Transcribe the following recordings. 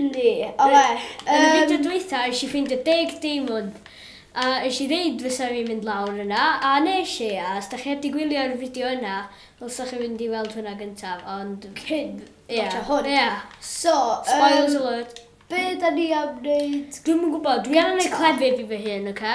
Yndi, o ie. Yn y fideo dwytha esh i ffeindio deg deimwnd a esh i ddeud fysa fi'n mynd lawr yna a nesh i a os dach chi heb di gwylio'r fideo yna ddylsa chi fynd i weld hwnna gyntaf ond cyn watsio hwn. Ia. So yym. Spoilers alert. Be' 'dan ni am neud? Dwi'm yn gwbo dwi am neud clefyd i fy hun oce?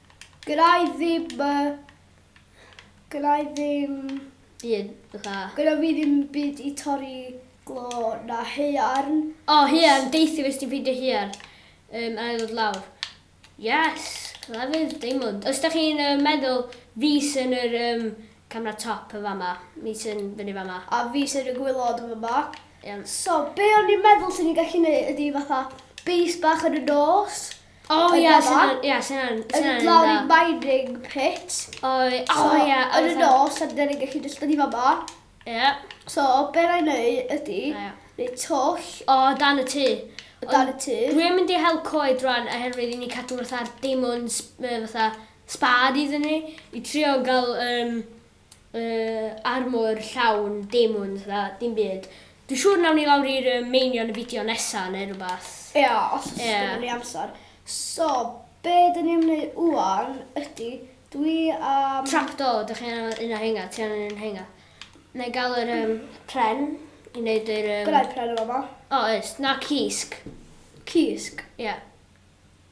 Gyda i ddim... Gyda i ddim... Byd, fatha... Gyda fi ddim byd i torri glo na haearn. O, haearn, deithi fes ti'n ffeindio haearn um, a ddod lawr. Yes, clefyd, diamond. Os da chi'n uh, meddwl, fi sy'n yr um, camera top yn fama, mi sy'n fyny fama. A fi sy'n y gwylod yn fama. Yeah. So, be o'n i'n meddwl sy'n ni'n gallu neud ydy fatha base bach yn y nos. O Yn ia, fama. sy'n yn, ia, sy'n yn, Yn sy'n mynd lawr i yn mining pit. O, i- o So, ia, a yn y fatha- nos, a dyn ni'n gallu just dod i fama. Ia, So, be na i neud ydy, a ia. neud twll O, dan y tŷ. o dan y tŷ. Dwi yn mynd i hel coed rwan oherwydd i ni cadw fatha'r diamonds, yy, fatha, sbâd iddyn ni, i trio ga'l, yym, Yy armor llawn demons na dim byd. Dwi siŵr nawn ni lawr i'r yy meini yn y fideo nesa ne rwbath. Ia os o's Ia. gynnon ni amsar. So be dyn ni am neu ŵan ydi dwi am... Trap door dych chi angan un o rheina ti angen un o rheina. Nai ga'l yr yym pren i neud yr yym... Gynnai pren yn fama. O oes na cysg. Cysg? Ia.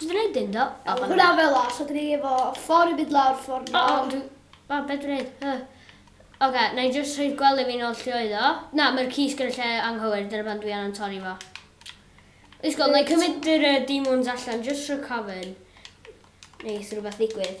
Dwi wedi neud un do? O, O, hwnna fel la, so dyn ni efo ffordd i mynd lawr, ffordd O, lawr. ond, o, be dwi'n neud? Yy. Oce, na i jyst rhoi'r gwely fi'n ôl lle oedd o. Na, mae'r cysg yn y lle anghywir, dyna pan dwi angen torri fo. Is gweld, na i cymryd yr yy, demons allan, jyst rhag cofyn. Neith rhywbeth ddigwydd.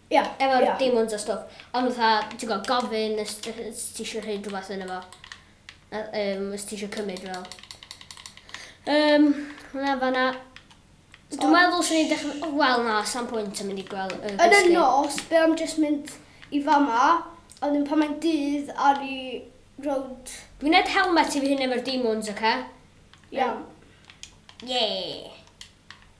Ie, efo'r ie. demons a stwff. Ond fatha, ti'n gwybod, gofyn os ti eisiau rhaid rhywbeth yn efo. Um, os ti eisiau cymryd fel. Um, na, fanna. Dwi'n meddwl sy'n ni'n dechrau... Wel na, sa'n pwynt yn mynd i gweld y gwesty. Yn y nos, be am jyst mynd i fama, ond yn pan mae'n dydd ar i rownd... Dwi'n ed helmet i fi hyn efo'r demons, oce? Okay? Iawn. Yeah.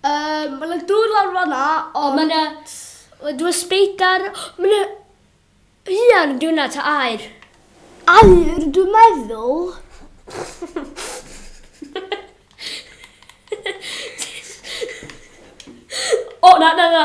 Um, mae yna dŵr lawr fanna, ond... Mae yna... Dwi'n speidar... Mae yna... Ian, dwi'n yna ta air. Air, dwi'n meddwl. o, na, na, na.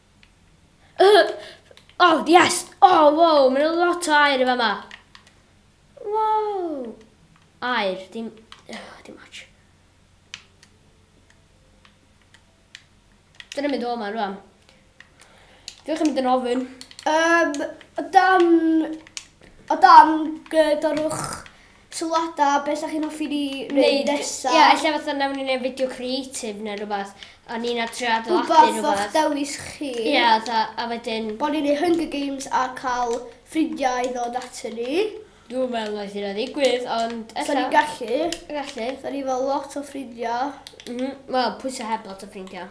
Oh, yes! Oh, wow, mae'n yna lot o air i fa ma. Wow! Air, dim... Oh, dim much. Dyna mynd o yma rwan. Diolch yn mynd yn ofyn. Um, o dan... O dan, gydorwch sylwada be sa chi'n hoffi ni neud nesa? Ia ella fatha nawn ni neud fideo creative ne rwbath a ni na trio adeiladu rwbath. Rwbath o'ch dewis chi. Ia fatha a wedyn. Bo ni'n neud Hunger Games a ca'l ffrindia i ddod ato ni. Dwi'm yn meddwl neith hynna ddigwydd ond ella. Sa ni'n gallu. Gallu. Sa ni efo lot o ffrindia. M-hm wel pwy sy heb lot o ffrindia?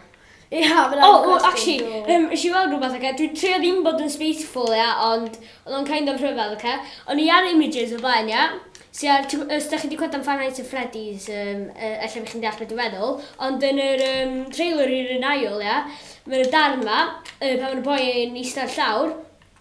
Ie, fel arfer. O, o, actually, yym, nes i weld rhywbeth, oce? Dwi'n trio ddim bod yn spiteful, ia, ond oedd o'n kind of rhyfedd, oce? O'n i ar images o blaen, ia? Sy ar, ti'n gwybod, os da chi wedi clywed am Five Nights at Freddy's, um, uh, ella bych chi'n deall beth dwi'n meddwl, ond yn yr um, trailer i'r un ail, ia, mae'n y darn ma, uh, pan mae'n y boi yn eistedd llawr,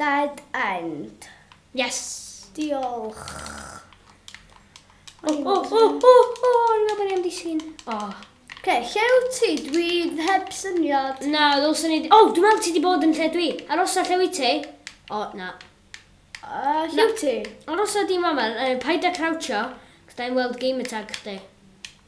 Dead end. Yes! Diolch. O, o, o, o, o, o'n i'n meddwl bod ni am disgyn. O. Ce, lle yw ti? Dwi heb syniad. Na, ddylswn ni... O, dwi'n meddwl ti wedi bod yn lle dwi. Arosa lle wyt ti? O, na. Uh, lle wyt ti? Arosa di mama, uh, paid a croucho, cos da i'n weld game attack chdi.